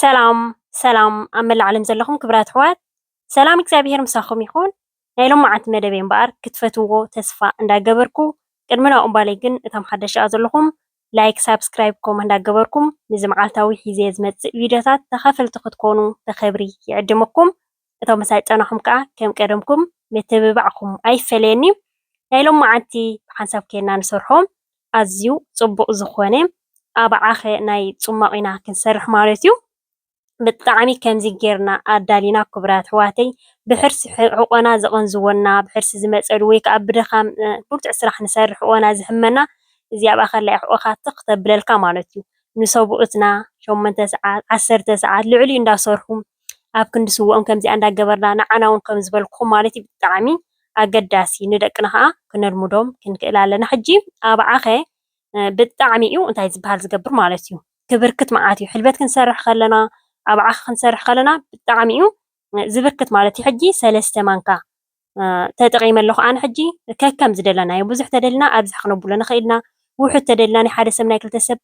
ሰላም ሰላም ኣብ መላእ ዓለም ዘለኹም ክብራት ኣሕዋት ሰላም እግዚኣብሄር ምሳኹም ይኹን። ናይ ሎማዓንቲ መደበይ እምበኣር ክትፈትዎ ተስፋ እንዳገበርኩ ቅድሚ ናብኡ እምባለይ ግን እቶም ሓደሻ ዘለኹም ላይክ ሳብስክራይብ ኮመንት እንዳገበርኩም ንዚ መዓልታዊ ሒዘ ዝመጽእ ቪድዮታት ተኻፈልቲ ክትኮኑ ብኽብሪ ይዕድመኩም። እቶም መሳይጠናኹም ከኣ ከም ቀደምኩም ምትብባዕኩም ኣይፈለየኒ ናይ ሎምዓንቲ ብሓንሳብ ኬንና ንሰርሖ ኣዝዩ ጽቡቅ ዝኾነ ኣብዓኸ ናይ ጹማቅ ኢና ክንሰርሕ ማለት እዩ ብጣዕሚ ከምዚ ጌርና ኣዳሊና ኩቡራት ኣሕዋተይ ብሕርሲ ሕቆና ዘቀንዝወና ብሕርሲ ዝመጸሉ ወይ ከኣ ብድኻም ብርቱዕ ስራሕ ንሰርሕ ሕቆና ዝሕመና እዚ ኣብኣ ከላ እዩ ሕቆካ ትኽ ተብለልካ ማለት እዩ ንሰቡኡትና ሸሞንተ ሰዓት ዓሰርተ ሰዓት ልዕሊኡ እንዳሰርሑ ኣብ ክንዲ ስውኦም ከምዚኣ እንዳገበርና ንዓና ውን ከም ዝበልኩኹም ማለትዩ ብጣዕሚ ኣገዳሲ ንደቅና ከኣ ክነልምዶም ክንክእል ኣለና ሕጂ ኣብ ዓኸ ብጣዕሚ ዩ እንታይ ዝብሃል ዝገብር ማለት ዩ ክብርክት መዓት ዩ ሕልበት ክንሰርሕ ከለና ኣብ ዓኽ ክንሰርሕ ከለና ብጣዕሚ ዩ ዝብርክት ማለት ዩ ሕጂ ሰለስተ ማንካ ተጠቒመ ኣለኹ ኣነ ሕጂ ከከም ዝደለናዮ ብዙሕ ተደልና ኣብዝሕ ክነብሎ ንኽእል ኢና ውሑድ ተደልና ናይ ሓደ ሰብ ናይ ክልተ ሰብ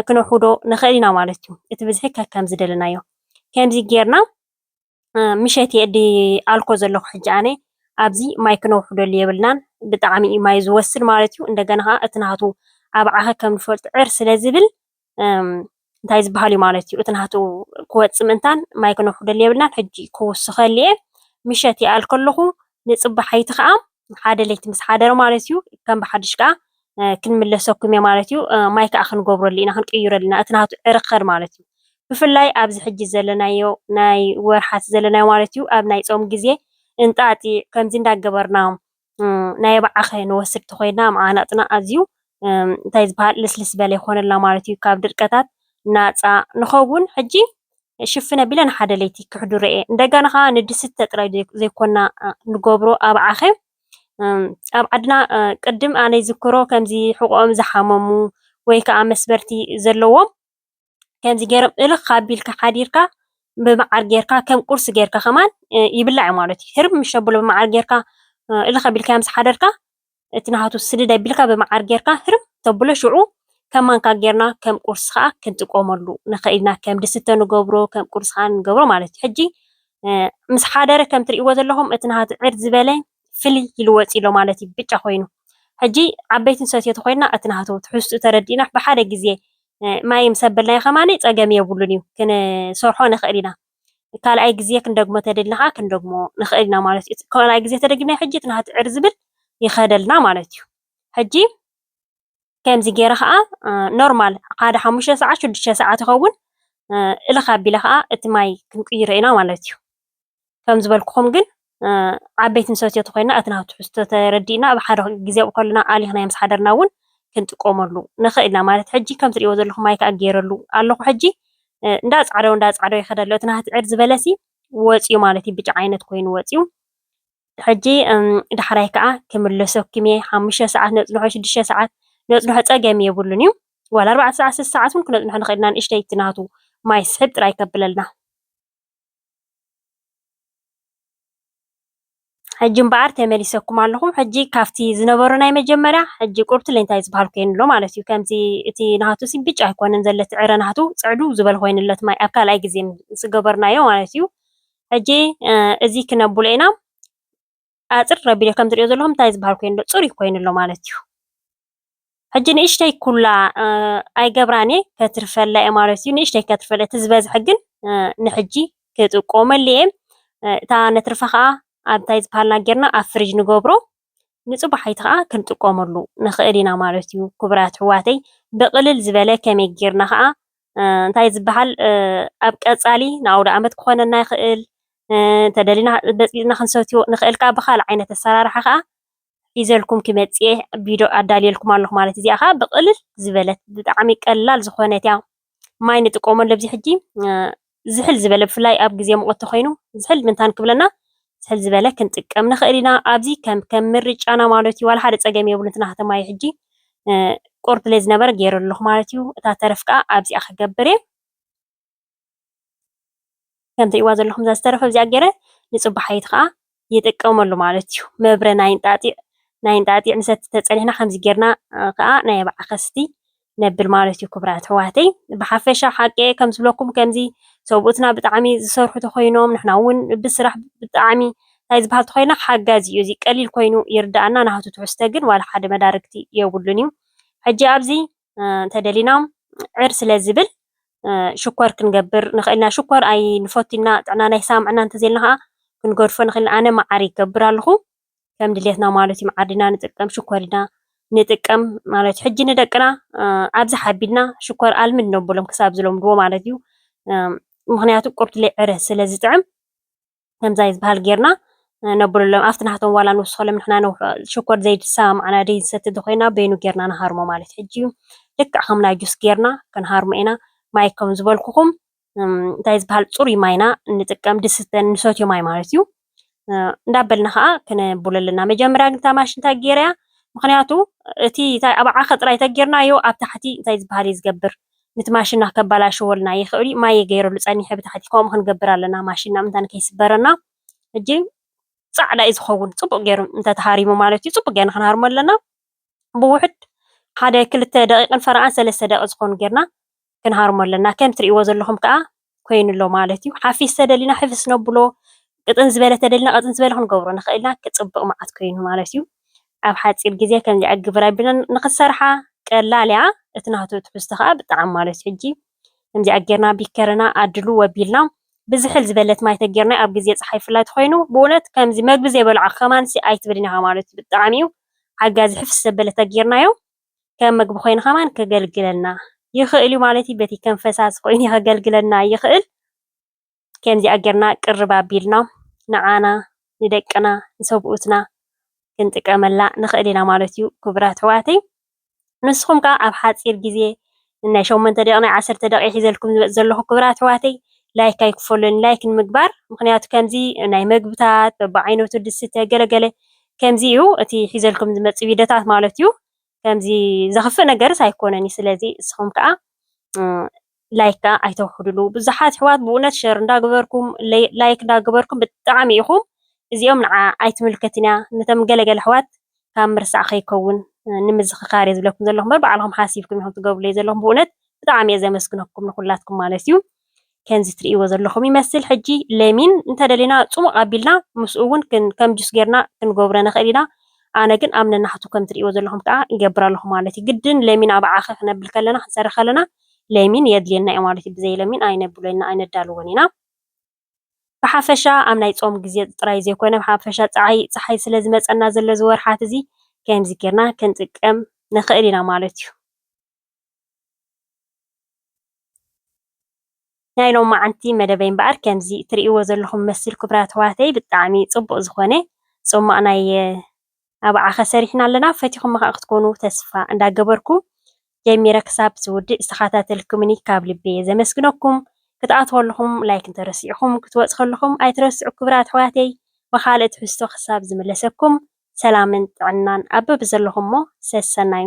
ክነውሕዶ ንኽእል ኢና ማለት እዩ እቲ ብዝሒ ከከም ዝደለናዮ ከምዚ ጌርና ምሸት የእዲ ኣልኮ ዘለኹ ሕጂ ኣነ ኣብዚ ማይ ክነውሕደሉ የብልናን ብጣዕሚ እዩ ማይ ዝወስድ ማለት እዩ እንደገና ከዓ እቲ ናቱ ኣብ ዓኸ ከም ንፈልጡ ዕር ስለ ዝብል እንታይ ዝበሃል እዩ ማለት እዩ እቲ ናቱ ክወፅእ ምእንታን ማይ ክነውሕደሉ የብልናን ሕጂ ክውስኸሉ እየ ምሸት ይኣል ከለኹ ንፅባሓይቲ ከዓ ሓደ ለይቲ ምስ ሓደረ ማለት እዩ ከም ብሓድሽ ከዓ ክንምለሰኩም እየ ማለት እዩ ማይ ከዓ ክንገብረሉ ኢና ክንቅይረሉ ኢና እቲ ናቱ ዕርኸድ ማለት እዩ ብፍላይ ኣብዚ ሕጂ ዘለናዮ ናይ ወርሓት ዘለናዮ ማለት እዩ ኣብ ናይ ፆም ግዜ እንጣጢዕ ከምዚ እንዳገበርና ናይ ኣባዓኸ ንወስድ ተኾይና መዓናጥና ኣዚዩ እንታይ ዝበሃል ልስልስ በለ ይኾነልና ማለት እዩ ካብ ድርቀታት ናፃ ንኸውን ሕጂ ሽፍነ ቢለ ንሓደ ለይቲ ክሕድሮ እየ እንደገና ከዓ ንድስተ ጥራይ ዘይኮና ንገብሮ ኣባዓኸ ኣብ ዓድና ቅድም ኣነ ይዝክሮ ከምዚ ሕቆኦም ዝሓመሙ ወይ ከዓ መስበርቲ ዘለዎም ከምዚ ጌሮም እልኽ ኣቢልካ ሓዲርካ ብመዓር ጌርካ ከም ቁርሲ ጌርካ ከማን ይብላዕ እዩ ማለት እዩ። ህርም ምሽ ኣብሎ ብመዓር ጌርካ እልኽ ኣቢልካ ምስ ሓደርካ እቲ ናሃቱ ስድድ ኣቢልካ ብመዓር ጌርካ ህርም ተብሎ ሽዑ ከም ማንካ ጌርና ከም ቁርሲ ከዓ ክንጥቀመሉ ንኽእል ኢና። ከም ድስተ ንገብሮ ከም ቁርሲ ከዓ ንገብሮ ማለት እዩ። ሕጂ ምስ ሓደረ ከም ትርእይዎ ዘለኹም እቲ ናሃቱ ዕር ዝበለ ፍልይ ኢሉ ወጺኡ'ሎ ማለት እዩ ብጫ ኮይኑ። ሕጂ ዓበይትን ሰትዮትን ኮይንና እቲ ናህቱ ትሕዝትኡ ተረዲእና ብሓደ ግዜ ማይ ምስ ኣበልናዮ ከማን ጸገም የብሉን እዩ ክንሰርሖ ንኽእል ኢና። ካልኣይ ግዜ ክንደግሞ ተደሊና ከኣ ክንደግሞ ንኽእል ኢና ማለት እዩ። ካልኣይ ግዜ ተደጊምናዮ ሕጂ እቲ ናህቲ ዕር ዝብል ይኸደልና ማለት እዩ። ሕጂ ከምዚ ገይረ ከዓ ኖርማል ሓደ ሓሙሽተ ሰዓት ሽዱሽተ ሰዓት ይኸውን እልኽ ኣቢለ ከዓ እቲ ማይ ክንቅይሮ ኢና ማለት እዩ። ከም ዝበልኩኹም ግን ዓበይቲ ንሰትዮ ተኮይና እቲ ናቱ ትሕዝቶ ተረዲእና ኣብ ሓደ ግዜ ኣብኡ ከለና ኣሊኽናዮ ምስ ሓደርና እውን ክንጥቀመሉ ንኽእል ኢና ማለት ሕጂ ከም ትሪእዎ ዘለኹም ማይ ከዓ ገይረሉ ኣለኹ ሕጂ እንዳጻዕደው እንዳጻዕደው ይኸደ ኣሎ እቲ ናህቲ ዕር ዝበለሲ ወፂኡ ማለት እዩ ብጫ ዓይነት ኮይኑ ወፂኡ ሕጂ ዳሕራይ ከኣ ክምለሰኩም እየ ሓሙሽተ ሰዓት ነጽንሖ ሽዱሽተ ሰዓት ነጽንሖ ጸገም የብሉን እዩ ዋላ ኣርባዕተ ሰዓት ሰስተ ሰዓት ውን ክነጽንሖ ንክእል ኢና ንእሽተይ እቲ ናቱ ማይ ስሕብ ጥራይ ከብለልና ሕጂ እምበኣር ተመሊሰኩም ኣለኹም ሕጂ ካብቲ ዝነበሮ ናይ መጀመርያ ሕጂ ቁርብ ትለንታይ ዝበሃል ኮይኑ ኣሎ ማለት እዩ ከምዚ እቲ ናቱ ሲ ብጫ ኣይኮነን ዘለቲ ዕረ ናቱ ጽዕዱ ዝበል ኮይኑለት ማይ ኣብ ካልኣይ ግዜ ዝገበርናዮ ማለት እዩ ሕጂ እዚ ክነብሎ ኢና ኣፅር ረቢዶ ከም ትሪኦ ዘለኹም እንታይ ዝበሃል ኮይኑ ኣሎ ፅሩይ ኮይኑ ኣሎ ማለት እዩ። ሕጂ ንእሽተይ ኩላ ኣይገብራን እየ ከትርፈላ እየ ማለት እዩ ንእሽተይ ከትርፈለ እቲ ዝበዝሐ ግን ንሕጂ ክጥቀመሉ እየ እታ ነትርፋ ከዓ ኣብ እንታይ ዝበሃልና ጌርና ኣብ ፍሪጅ ንገብሮ ንፅባሒቱ ከዓ ክንጥቀመሉ ንክእል ኢና ማለት እዩ ክቡራት ኣሕዋተይ ብቅልል ዝበለ ከመይ ጌርና ከዓ እንታይ ዝበሃል ኣብ ቀፃሊ ንኣውደኣመት ክኾነና ይኽእል እንተደሊና በፅቢፅና ክንሰትዮ ንኽእል ከዓ ብካልእ ዓይነት ኣሰራርሓ ከዓ ሒዘልኩም ክመፅእ እየ ቪድዮ ኣዳልየልኩም ኣለኹ ማለት እዩ እዚኣ ከዓ ብቅልል ዝበለት ብጣዕሚ ቀላል ዝኾነት እያ ማይ ንጥቀመሉ ኣብዚ ሕጂ ዝሕል ዝበለ ብፍላይ ኣብ ግዜ ሙቐት ተኾይኑ ዝሕል ምንታን ክብለና ዝሕል ዝበለ ክንጥቀም ንኽእል ኢና። ኣብዚ ከም ከም ምርጫና ማለት እዩ ዋላ ሓደ ጸገም የብሉን እቲ ናህተ ማይ ሕጂ ቁርብ ለይ ዝነበረ ገይረ ኣለኹ ማለት እዩ። እታ ተረፍ ከኣ ኣብዚኣ ክገብር እየ። ከም ትሪእዋ ዘለኹም እዛ ዝተረፈ ኣብዚኣ ገይረ ንፅባሒት ከዓ ይጥቀመሉ ማለት እዩ። መብረ ናይ እንጣጢዕ ናይ እንጣጢዕ ምሰቲ ተፀኒሕና ከምዚ ጌርና ከዓ ናይ ኣብዓ ከስቲ ነብል ማለት እዩ ክብራት ኣሕዋተይ። ብሓፈሻ ሓቂ ከም ዝብለኩም ከምዚ ሰብኡትና ብጣዕሚ ዝሰርሑ ተኮይኖም ንሕና እውን ብስራሕ ብጣዕሚ እንታይ ዝበሃል ተኮይና ሓጋዚ እዩ እዚ ቀሊል ኮይኑ ይርዳእና ናሃቱ ትሕዝቶ ግን ዋላ ሓደ መዳርግቲ የብሉን እዩ። ሕጂ ኣብዚ እንተደሊና ዕር ስለ ዝብል ሽኮር ክንገብር ንኽእል ኢና። ሽኮር ኣይንፈቱ ኢና፣ ጥዕናና ይሰማምዐና እንተዘይልና ከዓ ክንገድፎ ንኽእል። ኣነ መዓር ይገብር ኣለኹ ከም ድሌትና ማለት እዩ። መዓር ኢና ንጥቀም፣ ሽኮር ኢና ንጥቀም ማለት እዩ። ሕጂ ንደቅና ኣብዚ ሓቢልና ሽኮር ኣልምድ ነብሎም ክሳብ ዝለምድዎ ማለት እዩ። ምክንያቱ ቁርትሌ ዕረ ስለ ዝጥዕም ከምዛ እዩ ዝበሃል ጌርና ነብሉሎም ኣብቲ ናህቶም ዋላ ንውስኸሎም ንሕና ነውሕኦ ሽኮር ዘይሰማምዓና ደይ ንሰቲ እንተኾይና በይኑ ጌርና ንሃርሞ ማለት ሕጂ እዩ ልክዕ ከም ናይ ጁስ ጌርና ክንሃርሞ ኢና ማይ ከም ዝበልኩኹም እንታይ ዝበሃል ፅሩይ ማይና ንጥቀም ድስተ ንሰትዮ ማይ ማለት እዩ እንዳበልና ከዓ ክነብሎ ኣለና መጀመርያ ግን እታ ማሽን እንታይ ጌረያ ምክንያቱ እቲ እንታይ ኣብ ዓኸ ጥራይ ተጌርናዮ ኣብ ታሕቲ እንታይ ዝበሃል እዩ ዝገብር ንቲ ማሽና ከባላሽወልና ይክእልዩ ማየ ገይረሉ ጸኒሐ ብታሕቲ ከምኡ ክንገብር ኣለና ማሽና ምንታ ንከይስበረና ሕጂ ጻዕዳ እዩ ዝከውን ጽቡቅ ገይሩ እንተ ተሃሪሙ ማለት እዩ ጽቡቅ ገይርና ክንሃርሞ ኣለና ብውሕድ ሓደ ክልተ ደቂቅን ፈረቓን ሰለስተ ደቂቅ ዝኮኑ ገይርና ክንሃርሞ ኣለና ከም ትርእይዎ ዘለኩም ከኣ ኮይኑ ኣሎ ማለት እዩ። ሓፊስ ተደሊና ሕፍስ ነብሎ፣ ቅጥን ዝበለ ተደሊና ቅጥን ዝበለ ክንገብሮ ንኽእል ኢና። ክጽብቕ መዓት ኮይኑ ማለት እዩ። ኣብ ሓጺር ግዜ ከምዚኣ ግብር ኣቢልና ንኽትሰርሓ ቀላል እያ። እቲ ናቱ ትሕዝቶ ከኣ ብጣዕሚ ማለት እዩ። ሕጂ ከምዚኣ ጌርና ቢከርና ኣድሉ ወቢልና ብዝሕል ዝበለት ማይ ተጌርናዮ ኣብ ግዜ ጸሓይ ብፍላይ ተኾይኑ ብእውነት ከምዚ መግቢ ዘይበልዖ ከማንሲ ኣይትብልን ኢኻ ማለት እዩ። ብጣዕሚ እዩ ሓጋዚ ሕፍስ ዘበለ ተጌርናዮ ከም ምግቢ ኮይኑ ከማን ከገልግለና ይክእል እዩ ማለት እዩ በቲ ከም ፈሳሲ ኮይኑ ከገልግለና ይክእል ከምዚኣ ጌርና ቅርብ ኣቢልና ንዓና ንደቅና ንሰብኡትና ክንጥቀመላ ንክእል ኢና ማለት እዩ ክቡራት ኣሕዋተይ ንስኩም ከኣ ኣብ ሓጺር ግዜ ንናይ ሸሞንተ ደቂቅ ናይ ዓሰርተ ደቂቅ ሒዘልኩም ዝመጽእ ዘለኩ ክብራት ኣሕዋተይ ላይክ ኣይክፈሎኒ ላይክ ንምግባር ምክንያቱ ከምዚ ናይ መግብታት በብዓይነቱ ድስተ ገለ ገለ ከምዚ እዩ እቲ ሒዘልኩም ዝመጽእ ቪደታት ማለት እዩ ከምዚ ዘክፍእ ነገርስ ኣይኮነን እዩ ስለዚ እስኩም ከኣ ላይክ ከኣ ኣይተውሕድሉ ብዙሓት ኣሕዋት ብእውነት ሸር እንዳገበርኩም ላይክ እንዳገበርኩም ብጣዕሚ ኢኩም እዚኦም ንዓ ኣይትምልከትን እያ ነቶም ገለገለ ኣሕዋት ካብ ምርሳዕ ከይከውን ንምዝኽካር እየ ዝብለኩም ዘለኹ እምበር ባዕልኹም ሓሲብኩም ኢኹም ትገብሩለይ ዘለኹም ብእውነት ብጣዕሚ እየ ዘመስግነኩም ንኹላትኩም ማለት እዩ ከምዚ ትርእይዎ ዘለኹም ይመስል ሕጂ ለሚን እንተደሊና ፅሙቕ ኣቢልና ምስኡ እውን ከም ጁስ ጌርና ክንገብሮ ንኽእል ኢና ኣነ ግን ኣብ ነናሕቱ ከም ትርእይዎ ዘለኹም ከዓ ይገብር ኣለኹ ማለት እዩ ግድን ለሚን ኣብ ዓኸ ክነብል ከለና ክንሰርሕ ከለና ለሚን የድልየና እዩ ማለት እዩ ብዘይ ለሚን ኣይነብሎና ኣይነዳልዎን ኢና ብሓፈሻ ኣብ ናይ ጾም ግዜ ጥራይ ዘይኮነ ብሓፈሻ ጸሓይ ጸሓይ ስለ ዝመጸና ዘሎ እዚ ወርሓት እዚ ከምዚ ጌርና ክንጥቀም ንኽእል ኢና ማለት እዩ። ናይ ሎማዓንቲ መደበይ እምበኣር ከምዚ እትርእይዎ ዘለኹም መስል ክቡራት ኣሕዋተይ ብጣዕሚ ጽቡቕ ዝኾነ ጹማቕ ናይ ኣብዓኸ ሰሪሕና ኣለና ፈቲኹማ ከኣ ክትኮኑ ተስፋ እንዳገበርኩ ጀሚረ ክሳብ ዝውድእ ዝተኻታተልኩምኒ ካብ ልቢየ ዘመስግነኩም ክትኣትዉ ከለኹም ላይክ እንተረሲዕኹም ክትወጹ ከለኹም ኣይትረስዑ ክብራት ኣሕዋተይ ብኻልእ ትሕዝቶ ክሳብ ዝምለሰኩም ሰላምን ጥዕናን ኣብ በብዘለኹሞ ሰሰናዩ።